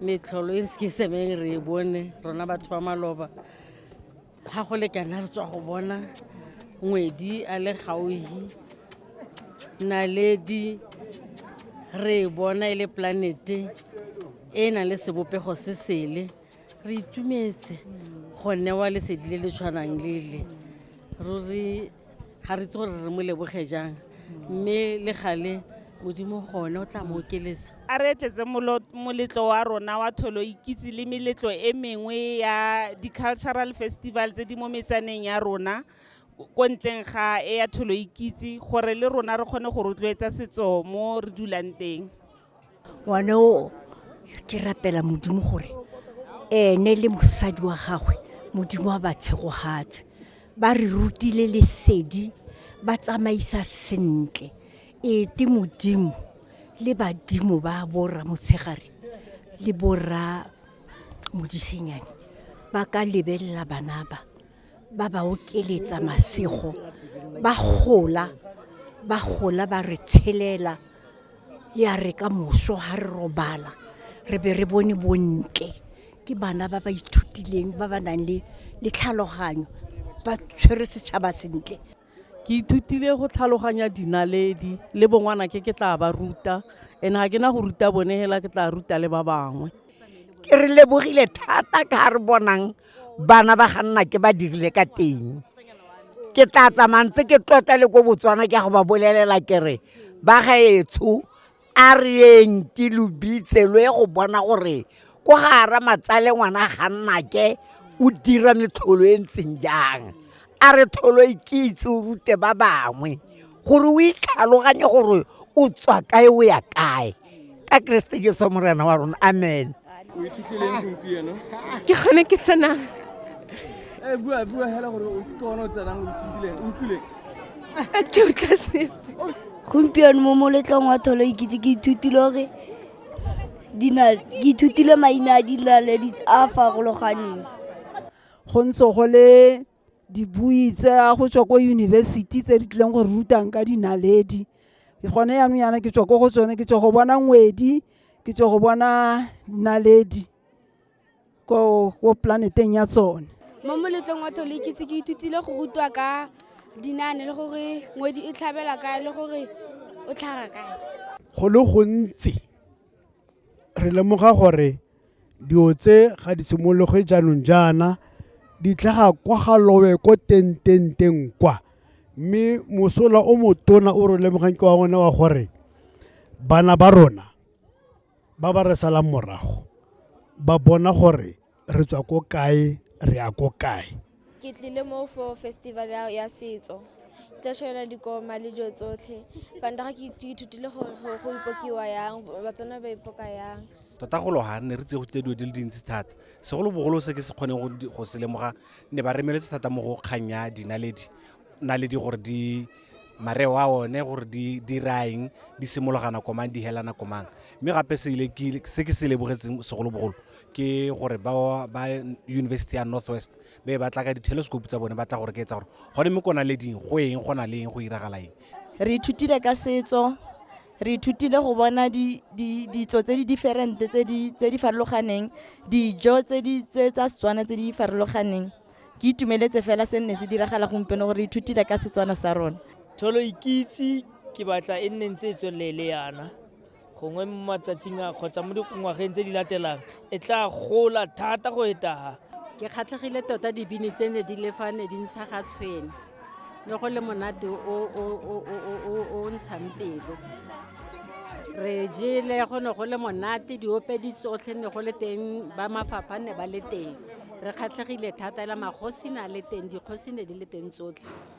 metlholo e ke semeng re e bone rona batho ba maloba ga go lekana re tswa go bona ngwedi a le gauhi naledi re e bona e le planete e e nang le sebopego se sele re itumetse go newa lesedi le le tshwanang lele ruri ga re itse gore re mo leboge jang mme le gale modimo gone o tla mo okeletsa a re tletse moletlo wa rona wa tholo ikitse le meletlo e mengwe ya di-cultural festival tse di mo metsaneng ya rona ko ntleng ga e ya tholo ikitse gore le rona re kgone go rotloetsa setso mo re dulang teng ngwane o ke rapela modimo gore ene le mosadi wa gagwe modimo wa ba tshegogatse ba re rutile lesedi ba tsamaisa sentle ete modimo le badimo ba borra motshegare le borra modisenyane ba ka lebelela bana ba ba ba okeletsa masego ba gola ba gola ba re tshelela ya re ka moso ga re robala re be re bone bontle ke bana ba ba ithutileng ba ba nang le le tlhaloganyo ba tshwere setšhaba sentle ke ithutile go tlhaloganya dinaledi le bongwana ke ke tla ba ruta and ga ke na go ruta bone hela ke tla ruta le ba bangwe ke re lebogile thata ka ga re bonang bana ba ga nna ke ba dirile ka teng ke tla tsamantse ke tlotla le ko botswana ke ya go ba bolelela ke re ba gaetsho a reyeng ke lo bitse lo ye go bona gore ko gara matsale ngwana ga nnake o dira metlholo e ntseng jang a re tholo e ke itse o rute ba bangwe gore o itlhaloganye gore o tswa kae o ya kae ka keresete jeso morena wa rona amen o ithutlileng gompieno ke gone ke tsenang eh, bua bua hela gore o kone o tsenang o ithutlileng o utlwileng a ke utlwa sepe gompieno mo moletlong wa tholo ikitse ke ithutile gore ke ithutile maina a dinaledi a farologaneng go ntse go le dibui tse ya go tswa ko yunibesithi tse di tlileng go rutang ka dinaledi gone yanong yana ke tswa ko go tsone ke tswa go bona ngwedi ke tswa go bona naledi ko planeteng ya tsone mo moletlong wa thole ke ke ithutile go rutwa ka dinane le gore ngwedi e tlhabela kae le gore o tlhaga kae go le gontsi re lemoga gore Dilo tse ga di simologe jaanong jaana, di tlhaga kwa ga lowe ko tententeng kwa. Mme mosola o motona o re lemogang ke wa one wa gore bana ba rona ba ba re salang morago ba bona gore re tswa ko kae, re ya ko kae. ke tlile mo for festival ya setso tla shela dikoma le dilo tsotlhe fanta ga ke ithutile gore go ipokiwa yang batswana ba ipoka yang tota go loga ne re tse go tlile dilo di le dintsi thata segolobogolo se ke se kgoneng go se lemoga ne ba remeletse thata mo go kgang ya dinaledi naledi gore di mareo a one gore di diraeng di simologana komang di helana komang mme gape se ke se lebogetseng segolobogolo ke gore ba ba university ya north west be ba tla ka di-telescope tsa bone ba tla gore ke etsa gore gone mo kona le ding go eng go na le eng go iragala eng re ithutile ka setso re ithutile go bona ditso tse di different tse di farologaneng dijo tse di tse tsa setswana tse di farologaneng ke itumeletse fela se nne se diragala gompieno gore re ithutile ka setswana sa rona tholo ikitse ke batla e nne ntse e tswelele yana gongwe mo matsatsing a kgotsa mo dingwageng tse di latelang e tla gola thata go etaga ke kgatlhegile tota dibini tse ne di lefa ne di ntsha ga tshwene ne go le monate o ntshang pelo re jele go ne go le monate diope di tsotlhe ne go le teng ba mafapha ne ba le teng re kgatlhegile thata la magosi na le teng dikgosi ne di le teng tsotlhe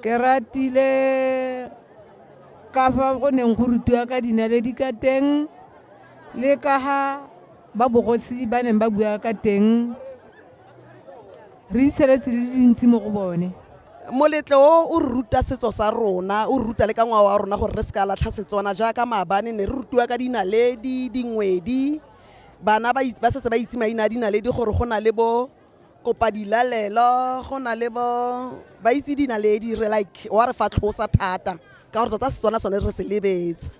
ke ratile ka fa go neng go rutiwa ka dinaledi ka teng le ka ga ba bogosi ba neng ba bua ka teng re itsheletse le dintsi mo go bone moletlo o o ruta setso sa rona o ruta le ka ngwao wa rona gore re se ka latlha setswana jaaka maabane ne re rutiwa ka dinaledi dingwedi bana ba setse ba itse maina a dinaledi gore go na le bo kopa dilalelo go na le bo ba itse dinaledi re like wa re fatlhosa thata ka gore tota setswana sone re se lebetse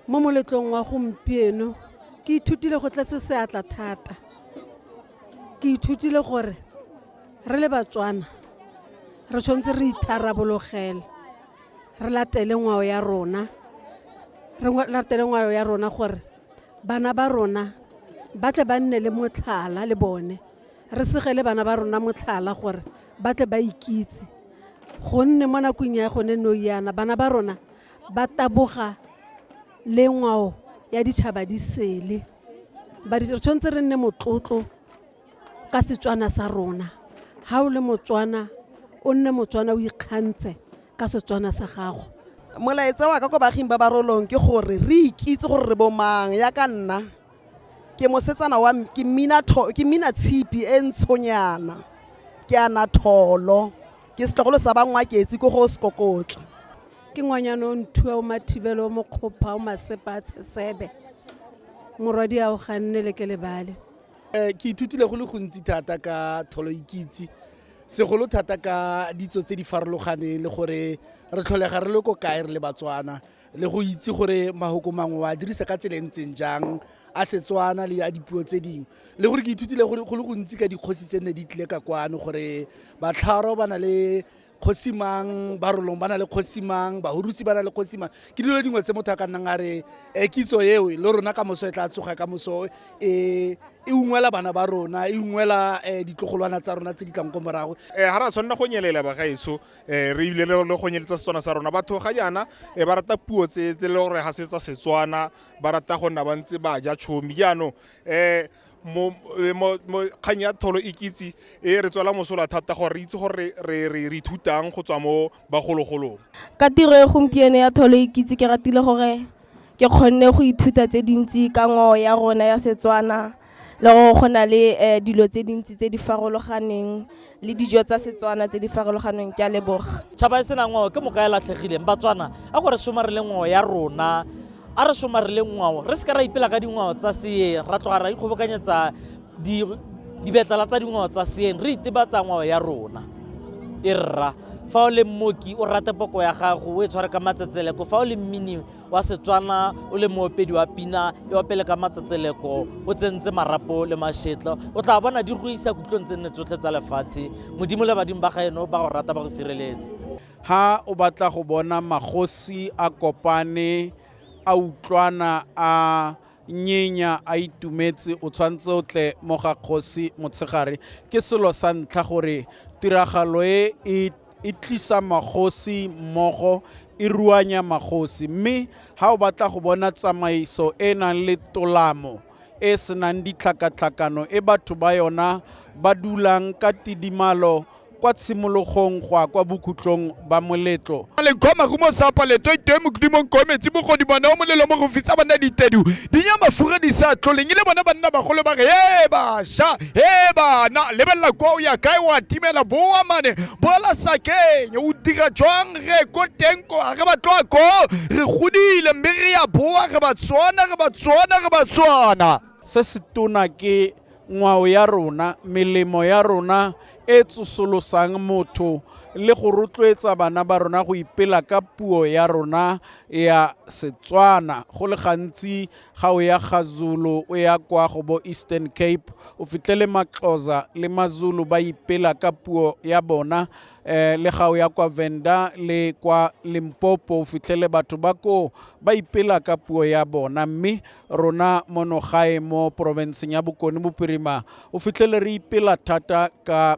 mo moletlong wa gompieno ke ithutile go tletse seatla thata ke ithutile gore re le batswana re tshwanetse re itharabologele re latele ngwao ya rona re latele ngwao ya rona gore bana ba rona ba tle ba nne le motlhala le bone re segele bana ba rona motlhala gore ba tle ba ikitse gonne mo nakong ya gone no yana bana ba rona ba taboga le ngwao ya ditšhaba di sele ba re tshwanetse re nne motlotlo ka setswana sa rona ga o le motswana o nne motswana o ikgantse ka setswana sa gago molaetsa wa ka ko baaging ba barolong ke gore re ikitse gore re bomang ya ka nna ke mosetsana wa ke mmina ke mmina tshipi e ntshonyana ke ana tholo ke setlogolo sa bangwa ke etse ko go sekokotla ke ngwanyana o nthuwa o mathibelo o mokgopha o masepa a tshesebe morwadi a o ganne le ke lebale um ke ithutile go le gontsi thata ka tholo ikitse segolo thata ka ditso tse di farologaneng le gore re tlholega re le ko kae re le batswana le go itse gore mahoko mangwe wa dirisa ka tsela e ntseng jang a setswana le a dipuo tse dingwe le gore ke ithutile gore go le gontsi ka dikgosi tse nne di tlile ka kwano gore batlharo ba na le kgosi mang barolong ba na le kgosi mang bahurusi ba na le kgosi mang ke dilo dingwe tse motho a ka nnang a re um kitso eo le rona ka moso e tla tsoga ka moso e e ungwela bana ba rona e ungwela um ditlogolwana tsa rona tse di tlang ko morago um ga ra tshwanela go nyelela bagaetso um re ebile le go nyeletsa setswana sa rona batho ga jaana um ba rata puo tse le gore ga se tsa setswana ba rata go nna ba ntse ba ja tshomi jaanong um kgang ya tholo e kitse e re tswela mosola thata gore re itse gore re ithutang go tswa mo bagologolong. Ka tiro e gompieno ya tholo e kitse ke ratile gore ke kgonne go ithuta tse dintsi ka ngwao ya rona ya Setswana le gore go na le dilo tse dintsi tse di farologaneng le dijo tsa Setswana tse di farologaneng. Ke a leboga. Tšhaba e sena ngwao ke moka e latlhegileng. Batswana a go re somarele ngwao ya rona, a re somarele ngwao, re seka ra ipela ka dingwao tsa seeng, ra tloga ra ikgobokanyetsa dibetlala tsa dingwao tsa seeng, re itebatsa ngwao ya rona. E rra fa o le mmoki o rate poko ya gago, o e tshware ka matsetseleko, fa o le mmini wa Setswana o le moopedi wa pina e opele ka matsatseleko o tsentse marapo le mashetlo o tla bona di go isa kutlong tse nne tsotlhe tsa lefatshe modimo le badimo ba ga eno ba go rata ba go sireletse ha o batla go bona magosi a kopane a utlwana a nyenya a itumetse o tshwanetse o tle mo ga kgosi motshegare ke selo sa ntlha gore tiragalo e e e tlisa magosi mmogo e ruanya magosi mme ha o batla go bona tsamaiso e e nang le tolamo e e senang ditlhakatlhakano e batho ba yona ba dulang ka tidimalo kwa tshimologong go a kwa bokhutlong ba moletlo Malengkho marumo sa paleto itoe mokudimong ko metsi bogodi bona o molelo mo go fitsa banna ditedu di nya mafura di sa tloleng ile bona banna bagolo ba re ee basha he bana lebelela kwa o ya kae wa timela boa mane boela sakeng o dira jwang re ko teng ko a re ba tloa ko re godile mme re ya boa re ba tswana re ba tswana re ba tswana se se tona ke ngwao ya rona melemo ya rona e tsosolosang motho le go rotloetsa bana ba rona go ipela ka puo ya rona ya setswana go le gantsi ga o ya ga Zulu o ya kwa go bo Eastern Cape o fitlhele Maxhosa le Mazulu ba ipela ka puo ya bona eh, le ga o ya kwa Venda le kwa Limpopo o fitlhele batho ba ko ba ipela ka puo ya bona mme rona mono gae mo porofenseng ya Bokone Bophirima o fitlhele re ipela thata ka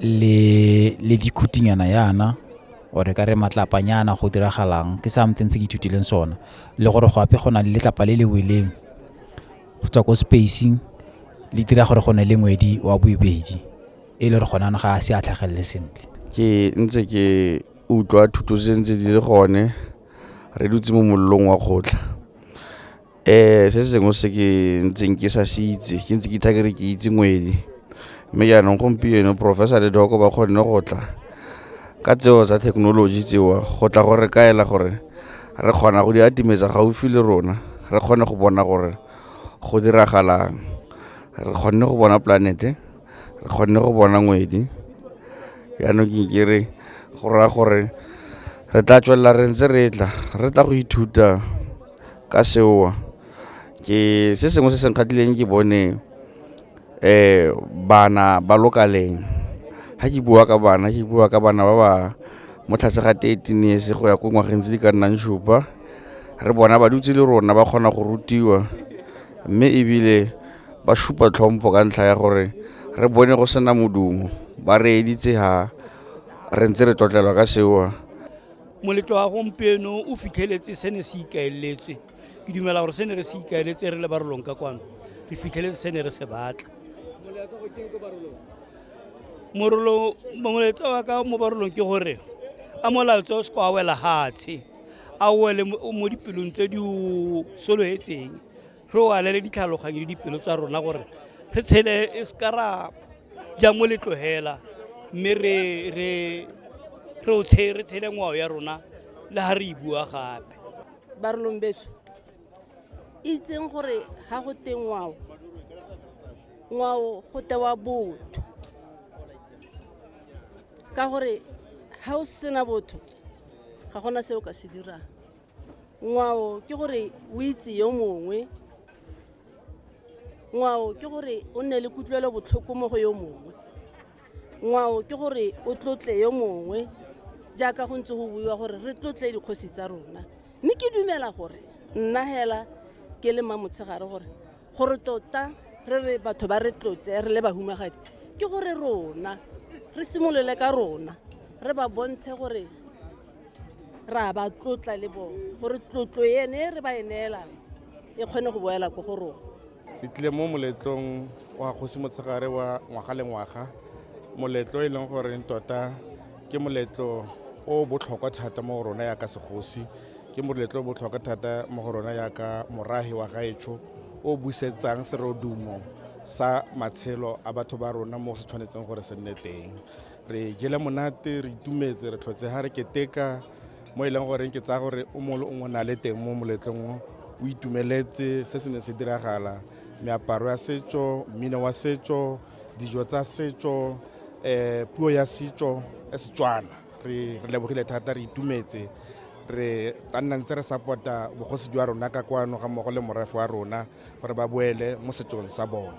le le dikhutinyana yana or ka re matlapanyana go diragalang ke something se ke ithutileng sona le gore go ape go na le letlapa le le weleng go tswa ko spacing le dira gore go ne le ngwedi wa boibedi e le gore gona ga a se a tlhagelele sentle ke ntse ke utlwa thuto tse ntse di le gone re dutse mo mollong wa kgotla Ee, se sengwe se ke ntseng ke sa se itse ke ntse ke itha kere ke itse ngwedi. Mme jaanong gompieno Professor le Doc ba kgonne go tla ka tseo tsa thekenoloji tseo go tla go re kaela gore re kgona go di atimetsa gaufi le rona, re kgone go bona gore go diragalang. Re kgonne go bona polanete, re kgonne go bona ngwedi, jaanong ke ke re go raya gore re tla tswelela re ntse re tla, re tla go ithuta. ka seo ke se sengwe se se nkgatlhileng ke bone bana ba lokaleng. Ga ke bua ka bana, ke bua ka bana ba ba mo tlase ga thirteen years go ya ko ngwageng tse di ka nnang supa, re bona ba dutse le rona ba kgona go rutiwa. Mme ebile ba supa tlhompo ka ntlha ya gore re bone go sena modumo, ba re editse ha re ntse re tlotlela ka seo. moletlo wa gompieno o fitlheletse se ne se ikaeletswe ke dumela gore se ne re se ikaeletse re le barolong ka kwano re fitlheletse se ne re se batla morolo moletsa wa ka mo barolong ke gore a molaetsa o se kwa wela gatshe a wele mo dipelong tse di o soloetseng re o alele ditlhaloganyo le dipelo tsa rona gore re tshele e se ka ra ja mo letlogela mme re re re o tshe re tshele ngwao ya rona le ha re e bua gape barolong betso itseng gore ga go te ngwao ngwao go tewa botho ka gore ga o sena botho ga gona se o ka se dirang ngwao ke gore o itse yo mongwe ngwao ke gore o nne le kutlwelo botlhoko mo go yo mongwe ngwao ke gore o tlotle yo mongwe jaaka go ntse go buiwa gore re tlotle dikgosi tsa rona mme ke dumela gore nna hela ke le mmamotshegare gore gore tota re re batho ba re tlotle re le bahumagadi ke gore rona re simolole ka rona re ba bontshe gore ra ba tlotla le bone gore tlotlo ene e re ba e neelang e kgone go boela ko go rona re tlile mo moletlong wa kgosi motshegare wa ngwaga le ngwaga moletlo e leng gore tota ke moletlo o botlhokwa thata mo go rona yaka segosi ke moletlo o botlhokwa thata mo go rona yaka morahi wa gaetsho o busetsang serodumo sa matshelo a batho ba rona mo se tshwanetseng gore se nne teng re jele monate re itumetse re tlhotse ga re keteka mo e leng goreng ke tsaya gore o mongwe le o mongwe na le teng mo moletlong o o itumeletse se se ne se diragala meaparo ya setso mmino wa setso dijo tsa setso um puo ya setso e setswana re lebogile thata re itumetse re ka nna ntse re support-a bogosi jwa rona ka kwano ga mmogo le morafe wa rona gore ba boele mo setsong sa bone